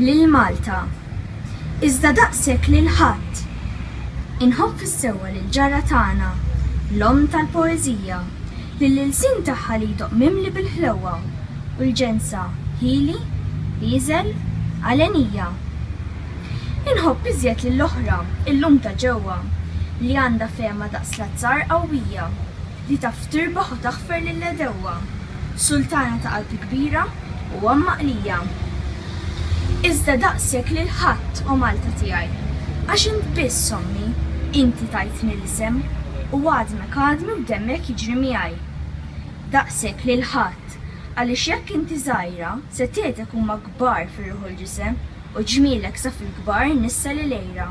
lil Malta, iżda daqshekk lil ħadd. Inħobb fis-sewwa lill-ġarra tagħna, l-omm tal-poeżija, lill-ilsien tagħha li jdoqq mimli bil-ħlewwa u l-ġensa, ħieli, ieżel, għalenija. Inħobb iżjed lill-oħra, illum ta' ġewwa, li għandha fehma daqs l-azzar qawwija. Li taf tirbaħ u taħfer lill-għedewwa. Sultana ta' qalb kbira u għamma qlija. Iżda daqshekk lil ħadd, o Malta tiegħi. Għax int biss, ommi, inti tajtni l-isem, u għadmek għadmi u demmek jiġri miegħi. Daqshekk lil ħadd, għaliex jekk inti żgħira, setgħetek huma kbar fir-ruħ u l-ġisem, u ġmielek sa fil-kbar nissa lil għira.